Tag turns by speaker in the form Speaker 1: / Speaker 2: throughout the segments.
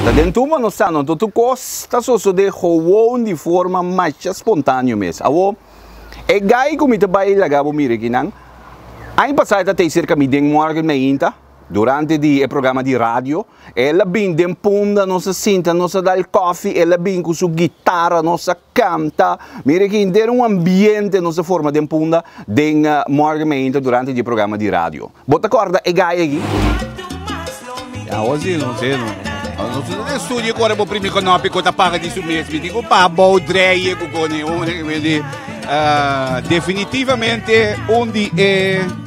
Speaker 1: Ta den tuma nos ta, no ta tur kos ta sosode gewoon di forma masha spontaneo mes. Awo, e gai ku mi ta bai laga bo mira ekinan, aña pasá e ta tei serka mi den morgen mainta, durante di e programa di radio. El a bin den punda, nos a sinta, nos a dal kofi, el a bin ku su gitara, nos a kanta. Mira aki henter un ambiente nos a forma den punda den morgen meinta durante di programa di radio. Bo ta korda e gaya aki? Ya awor si
Speaker 2: no se no. Nos no ta studio ku ora bo primi konopi ku ta paga di su mes. Mi tin ku pa bou dreie ku kone un di ah, definitivamente un di e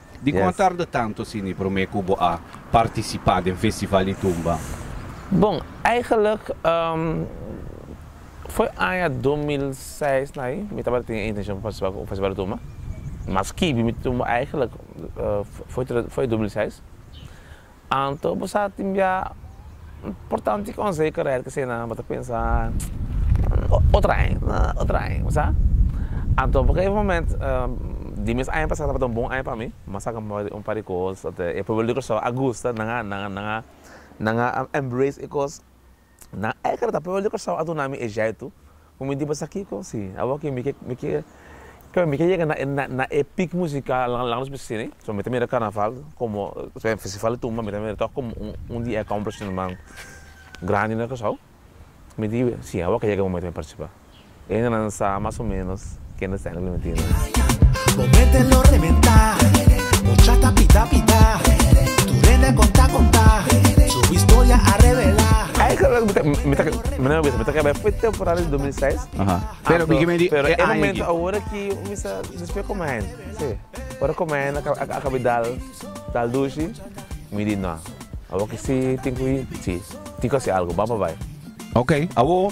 Speaker 3: Dikon a tarda
Speaker 2: tantu asini promé ku bo a partisipá den Festival di Tumba? Bon,
Speaker 3: eigelik foi aña dos mil seis na ahi, mi tabata tin e intenshion pa partisipá ku Festival di Tumba. Maski mi tumba eigelik foi dos mil seis. Anto bo sa tin bia un portanti konse i keret ke sinan bo ta pensa otro aña na otro aña bo sa anto bo e moment di mes aña pasa tabata un bon aña pa mi mas a kamba un par di kos tabata e pueblo di Kòrsou a gusta nan a nan a nan a embrace e kos. Na Ekar ta prueba di Kòrsou a duna mi e jèitu ku mi di pas a kiko si. Awor ke mi ke mi ke kila mi ke yega na e na e pik musikal nan langa nos bin sini so mi ta mira karnaval komo e festival di tumba mi ta mira tòg komo un un di e accomplishment nan grandi na Kòrsou mi di si awor ke yega e momente mi partisipa. Hendenan sa mas o menos kende sta Henry Clementino. Bo mete
Speaker 4: lo rebenta Ochata pita pita Tu rende konta konta Su historia a revela. Eigenlijk mi ta
Speaker 3: mi ta mi no bisa mi ta kaba e temporada di dos mil i
Speaker 2: seis Pero mi ke me di
Speaker 3: e aña aki. Awor aki mi bisa despues como hende si ora como hende a kaba dal dal dushi mi di no awor aki si tin ku si tin ku hasi algo bamba bai. Okay awor.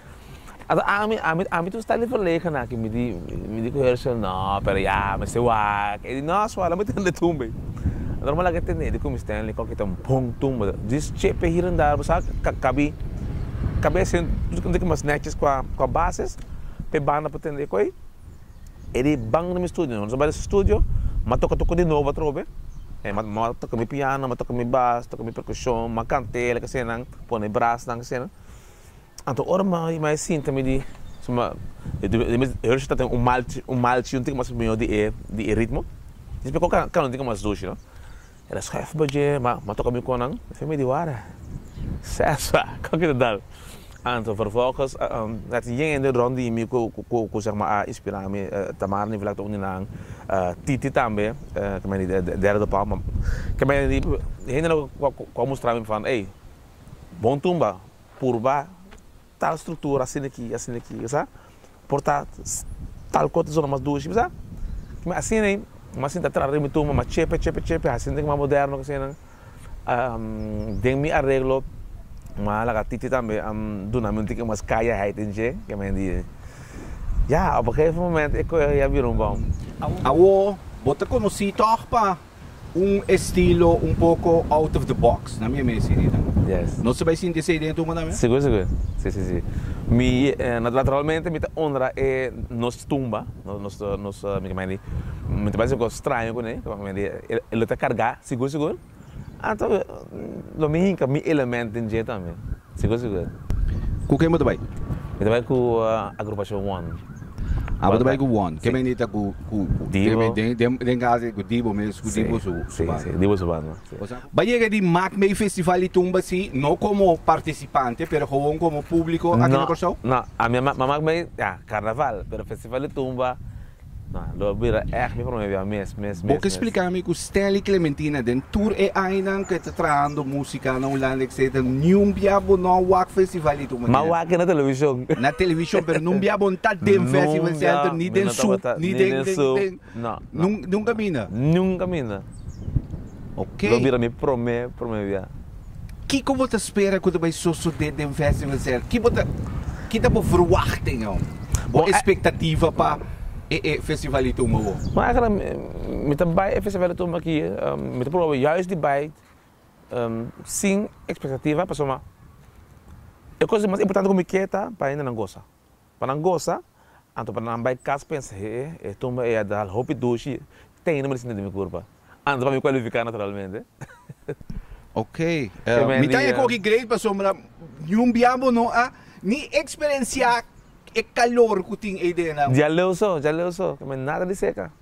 Speaker 3: Ato ami ami ami tu sta di verlegen aki mi di mi di coher shel no pero ya mester wak e di no suave lo mi tende tumbe lo mi laga tende cu mi Stanley cu kito bon tumbe this chepe hir en dar bo sa ka kabi kabi asin tumbe cu mas neches cua cua bases pe banda por tende cu ei e di ban na mi studio no mi bai na su studio ma toca toca di novo atrobe e ma ma toca mi piano ma toca mi bas toca mi percusion ma cante lo ke senan pone brasnan ke senan Anto ora mama i mai sinta mi di suma Hershey ta tene un malchi un tiki mas mihó di e ritmo i espe kon kano tiki mas dushi no e ta skòf bo dje ma a toka mi kon nan i fia mi di wara sèsa kon ki ta dal anto vervolgens at yen hende rònt di mi ku sègma a inspirá mi Tamara ni Vlakte un di nan Titi tambe ke mai di Dera do Pau ke mai di hende ku a mustrá mi van ey bon tumba. purba tal struktura asina aki, asina aki, kasa? Por ta tal kos ta zona mas dushi, kasa? Kima asina ei, mama sinta atrás riba mi tumba, mama chepe, chepe, chepe, hasi sinta ki mas moderno ku asina. Den mi areglo, mama laga titi tambe a duna mi un tiki mas kayaheid den dje, ke men di, ya, op e gegeven momento e koe a bira un bom. Awor,
Speaker 1: bo ta konosí tòg pa. Un estilo un poco out of the box, na mi e mester di nan. Yes. Nos ta bai
Speaker 3: sinti esei
Speaker 1: den tumba tambe? Sigur sigur. Si si
Speaker 3: si. Mi naturalmente mi ta honra e nos tumba, nos nos mi ta mandi mi ta bai si un cos straño cune mi ta mandi e lo ta carga sigur sigur anto lo mi hinca mi element den dje tambe. Sigur sigur. Ku ken bo ta
Speaker 1: bai? Mi ta bai ku
Speaker 3: Agrupashon One. Ah bo ta bai
Speaker 1: ku One. Ke mende ta ku Divo?
Speaker 3: Den kasa si
Speaker 1: ku Divo mes, ku Divo su banda. Si, si, Divo
Speaker 3: su banda, si. Bo yega di
Speaker 1: Maak Mee Festival di tumba si, no komo partisipante pero gewoon komo públiko aki na Kòrsou? No, no. Ami a maak
Speaker 3: mee, ya, Karnaval, pero Festival di tumba. Na, lo a bira ègt mi promé biaha mes, mes, mes, mes. Bo ke splika mi ku
Speaker 1: Stanley Clementina den tur e ainan ku e ta trahando musika na Hulanda etsetera niun biaha bo no a wak festival di tur manera? M'a wak na televishon.
Speaker 3: Na televishon pero
Speaker 1: niun biaha bo no ta den festival center ni den Sup ni den den den
Speaker 3: nunka a bina?
Speaker 1: Nunka a bina.
Speaker 3: Ok.
Speaker 1: Lo bira mi prome
Speaker 3: prome bia. Kiko
Speaker 1: bo ta spera ku ta bai sosodé den Festival Sèra? Ki bo ta kita bo verwachtingan, bo espektativa pa e e Festival di Tumba awor? Bon, aigenan mi
Speaker 3: mi ta bai e Festival di Tumba aki, mi ta proba juis di bai sin espektativa, pasobra e kos mas importante ku mi ke ta pa hende nan gosa. Pa nan gosa, anto pa nan bai cas pensa he e tumba ey a dal hopi dushi tey no me di sinti di mi curpa anto pa mi cualifica naturalmente.
Speaker 1: Ok, mi ta eco aki Grace pasobra niun bia bo no a ni experencia e calor cu tin ey dena. Djaleu so, djaleu
Speaker 3: so, me nada di seca.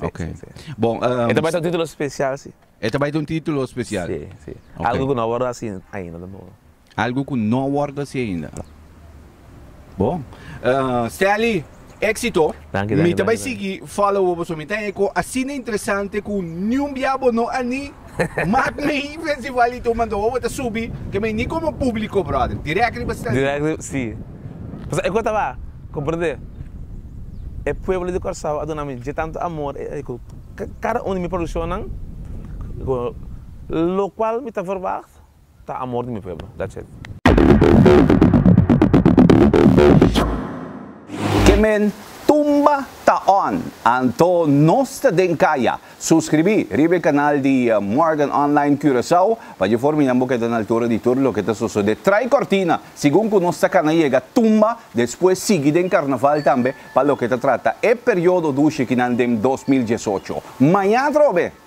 Speaker 3: Ok. Sí, sí,
Speaker 1: sí. Bon, um, E ta bai ta un título
Speaker 3: special, sí. E ta bai ta un título
Speaker 1: special? Sí, sí. Okay. Algo
Speaker 3: cu no a wordo haci ainda tampoco. Algo cu no
Speaker 1: a wordo haci ainda. No. Bon. Uh, Stanley, éxito. Danki, danki, Mi ta bai danki, sigui follow op so. Mi ta eco asina interesante cu niun biabo no ani Mak mi i pensa igualito manda wowo ta subi ke mi ni komo publiko brother direk riba stel si. Direk riba si
Speaker 3: pasobra e kos taba komprende e pueblo di Kòrsou a duna mi dje tantu amor e ku kada un di mi produshonnan lokual mi ta verwacht. ta amor di mi pueblo that's it.
Speaker 1: Kemen tumba ta on anto nos ta den kaya suscribi riba e canal di Morgan Online Curaçao pa dje forma nan bo keda na altura di tur loke ta sosode trai cortina segun cu nos ta cana yega tumba despues sigui den carnaval tambe pa loke ta trata e periodo dushi ki nan den dos mil diesocho maña atrobe.